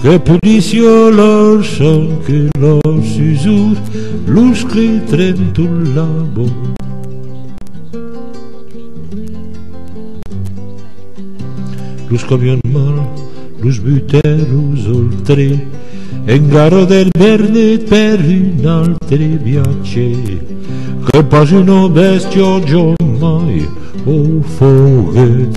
Que pudisio lor son que lor susur los que trenton la bon. Los camions mal, los butèlos ol tre, engarro del Bernet per un altre viatge, que pas una bèstia jamai o foguèt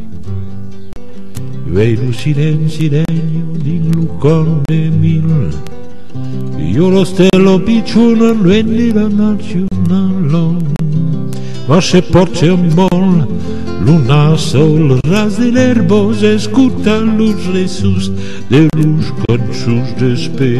Uèi lo silenci regna dins lo còr de mil Io lo stèlo piccion a luènh de la nacionala Ma se pòrte un bòl lo nas au ras de l'erbós Escota los ressus de los cançons d'espèr